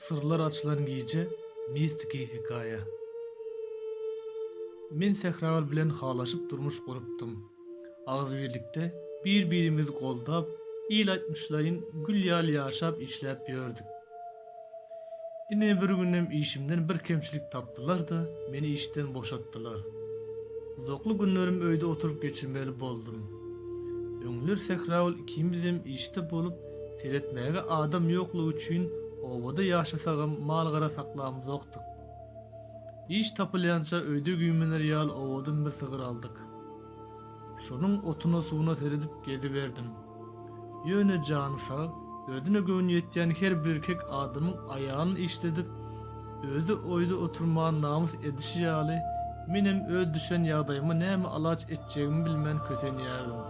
Syrlar açylan gije, mistiki hekaýa. Men Sähragyl bilen halaşyp durmuş gurupdym. Agzybirlikde, bir-birimizi goldap, il aýtmyşlaýyn gül ýaly ýaşap-işläp ýördük. Ine, bir günem işimden bir kemçilik tapdylar-da, meni işden boşatdylar. Uzakly günlerim öýde oturyp geçirmeli boldum. Öňler Sähragül ikimizem işde bolup, seretmäge adam ýoklugy üçin obada ýaşasagam mal-gara saklamzokdyk. Iş tapylýança öýde güýmener ýaly owadan bir sygyr aldyk. Şonuň otuna-suwuna seredip geziberdim. Ýöne jany sag, özüne göwni ýetýän her birkek adamyň aýalyny işledip, özi oýda oturman namys edişi ýaly, menem öz düşen ýagdaýyma näme alaç etjegimi bilmän kösenýärdim.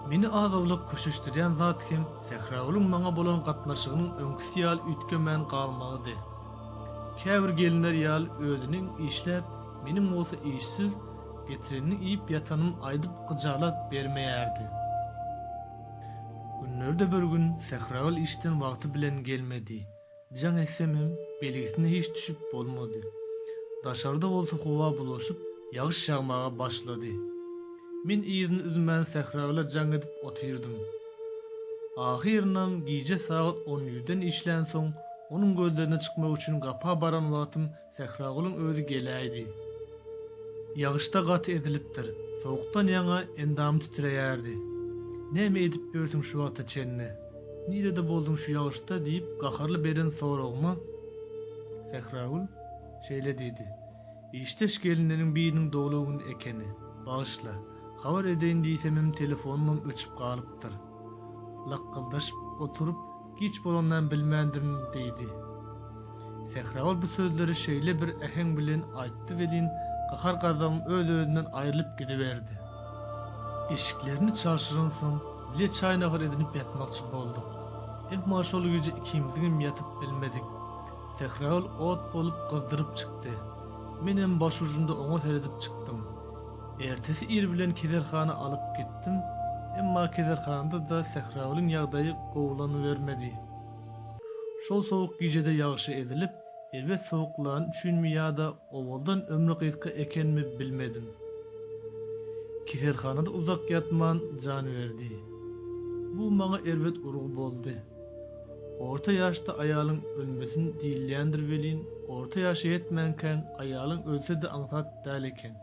Meni az-owlak köşeşdirýän zat hem Sähragulyň maňa bolan gatnaşygynyň öňküsi ýaly üýtgemän galmagydy. Käbir gelinler ýaly özüniň işläp, Meniň bolsa işsiz, getirenini iýip ýatanym aýdyp gyjala bermeýärdi. Günlerde bir gün Sähragül işden wagty bilen gelmedi. Jaň etsem hem belgisine hiç düşüp bolmady. Daşarda bolsa howa bulaşyp, ýagyş ýagmaga başlady. Men yzyny üzmän Sähragüle jaň edip otyrdym. Ahyrynam gije sagat on ýüzden işlänsoň, onuň gözlerine çykmak üçin gapa baran wagtym Sähragulyň özi geläýdi. Ýagyşda gaty ezilipdir. Sowukdan ýaňa endamy titreýärdi. Näme edip ýörsüň şu wagta çenli? Nirede bolduň şu ýagyşda? diýip gaharly beren soragyma Sähragül şeýle diýdi, Işdeş gelinleriň biriniň doglan güni ekeni. Bagyşla. Habar edeýin diýsemem telefonymam öçüp galypdyr. Lakgyldaşyp oturyp Giç bolanynam bilmändirin, diýdi. Sähragül bu sözleri şeýle bir äheň bilen aýtdy welin, gahar-gazabyň öz-özünden aýrylyp gidiberdi. Eşiklerini çalşyransoň, bile çaý-nahar edinip ýatmakçy bolduk. Emma şol gije ikimiziňem ýatyp bilmedik. Sähragül ot bolup gyzdyryp çykdy. Menem başujunda oňa seredip çykdym. Ertesi ir bilen keselhana alyp gitdim, emma keselhanada-da Sähragulyň ýagdaýy gowulanybermedi. Şol sowuk gijede ýagşy ezilip, erbet sowuklany üçinmi ýa-da owaldan ömri gysga ekenmi bilmedim. Keselhanada uzak ýatman jan berdi. Bu maňa erbet urgy boldy. Orta ýaşda aýalyň ölmesin diýilýändir welin, orta ýaşa ýetmänkäň aýalyň ölse-de aňsat däl eken.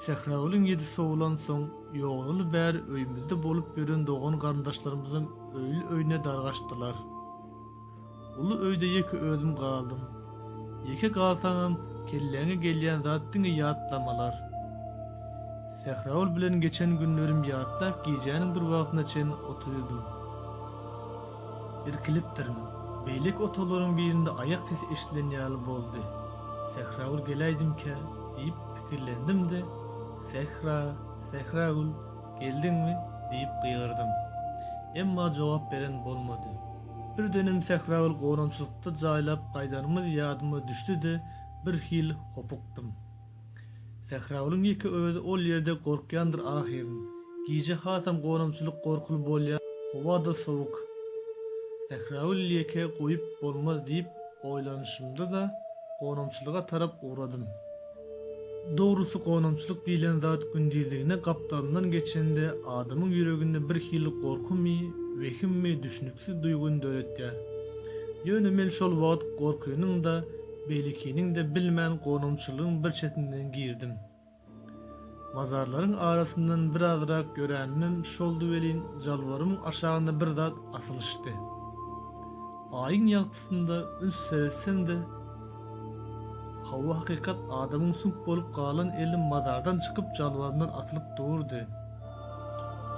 Sähragülüň ýedi sowlansoň, ýognaly bäri öýümizde bolup ýören dogan-garyndaşlarymyzam öýli-öýüne dargaşdylar. Uly öýde ýeke özüm galdym. Ýeke galsaňam kelläňe gelýän zat diňe ýatlamalar. Sähragül bilen geçen günlerim ýatlap gijäniň bir wagtyna çen otyrdym. Irkilipdirin. Beýleki otaglaryň birinde aýak sesi eşidilen ýaly boldy. Sähragül geläýdimkä diýip pikirlendim-de, Sähra, Sähragül, geldiňmi? diýip gygyrdym. Emma jogap beren bolmady. Birdenem sähraly goramçylykda jaýlap gaýdanymyz ýadyma düşdi-de, birhili hopukdym. Sähralyň ýeke özi ol ýerde gorkýandyr ahyryn. Gije hasam goramçylyk gorkuly bolýar, howa-da sowuk. Sähraly ýeke goýup bolmaz diýip oýlanyşymda-da, goramçylyga tarap ugradym. Dogrusy gonamçylyk diýlen zat gündizligine gapdalyndan geçende adamyň ýüreginde bir hili gorkymy, wehimmi düşnüksiz duýgyny döretýär. Ýöne men şol wagt gorkynyň-da, beýlekiniň-de bilmän gonamçylygyň bir çetinden girdim. Mazarlaryň arasyndan birazrak ýöränimem şoldy welin, jalbarymyň aşagyna bir zat asylyşdy. Aýyň ýagtysynda üns seretsem-de, hawa hakykat adamyň süňk bolup galan eli mazardan çykyp jalbarymdan asylyp durdy.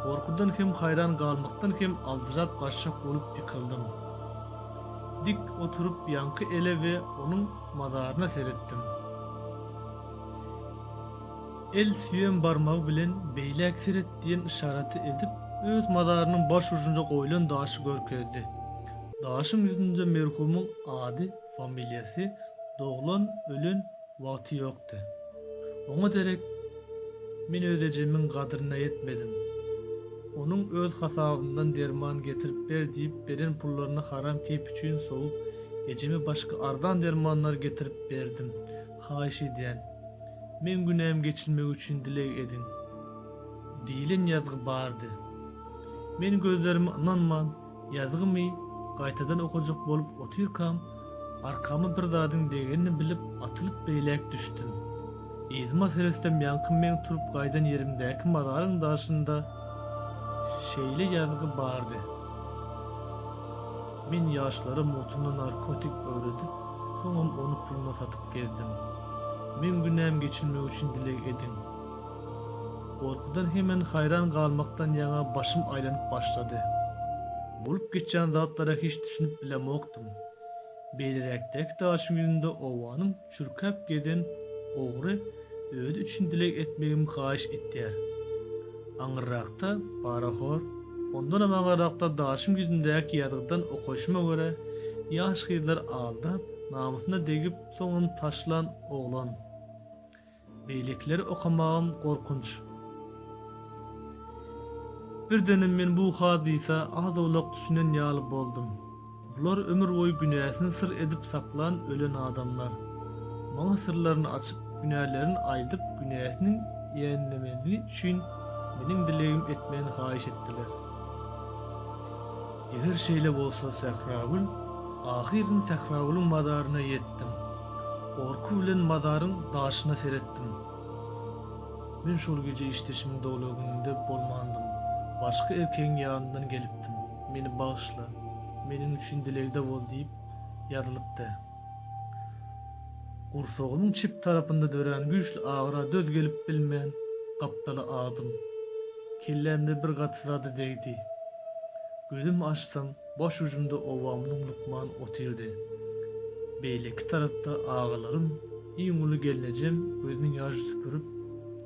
Gorkudan hem haýran galmakdan hem aljyrap gaçjak bolup ýykyldym. Dik oturyp ýaňky ele we onuň mazaryna seretdim. El süýem barmagy bilen beýläk seret diýen yşaraty edip, öz mazarynyň baş ujunda goýlan daşy görkezdi. Daşyň ýüzünde merhumyň ady, familiýasy, doglan, ölen wagty ýokdy. Oňa derek Men öz ejemiň gadryna ýetmedim. Onuň öz hasabymdan derman getirip ber diýip beren pullaryny haram keýp üçin sowup, ejeme başga arzan dermanlar getirip berdim. Haýyş edýän, meň günäm geçilmegi üçin dileg ediň! diýlen ýazgy bardy. Men gözlerime ynanman, ýazgymy gaýtadan okajak bolup otyrkam, arkama bir zadyň degenini bilip atylyp beýläk düşdüm. Yzyma seretsem ýaňky meň turup gaýdan ýerimdäki mazaryň daşynda şeýle ýazgy bardy, Men ýaşlara mutuna narkotik öwredip, Soňam ony puluna satyp gezdim. Meň günäm geçilmegi üçin dileg ediň. Gorkudan hemen haýran galmakdan ýaňa başym aýlanyp başlady. Bolup geçýän zatlara hiç düşünip bilemokdym. Beýleräkdäki daşyň ýüzünde obanyň çürkäp gezen ogry Özi üçin dileg etmegimi haýyş etýär. Aňyrrakda, parahor, ondanam aňyrrakda daşyň ýüzündäki ýazgydan okaýşyma görä, ýaş gyzlar aldap, namysyna degip, soňam taşlan oglan. Beýlekileri okamagam gorkunç. Birdenem men bu hadysa az-owlak düşünen ýaly boldum. Bular ömür boýy günäsini syr edip saklan ölen adamlar. Maňa syrlaryny açyp, günälerin aýdyp, günäsiniň ýeňlemegini üçin meniň dilegim etmegini haýyş etdiler. Eger şeýle bolsa Sähragül, ahyryn Sähragülüň mazaryna ýetdim. Gorky bilen mazaryň daşyna seretdim. Men şol gije işdeşimiň dogla gününde bolmandym. Başga erkegiň ýanyndan gelipdim. Meni bagyşla, meniň üçin dilegde bol diýip ýazylypdy. Gursagynyň çep tarapynda dörän güýçli agyra döz gelip bilmän, gapdala agdym. Kellämde bir gaty zady degdi. Gözüm açsam, baş ujumda obamyzyň lukman otyrdy. Beýleki tarapda agalarym, iň uly gelnejem gözüniň ýaşy süpürip,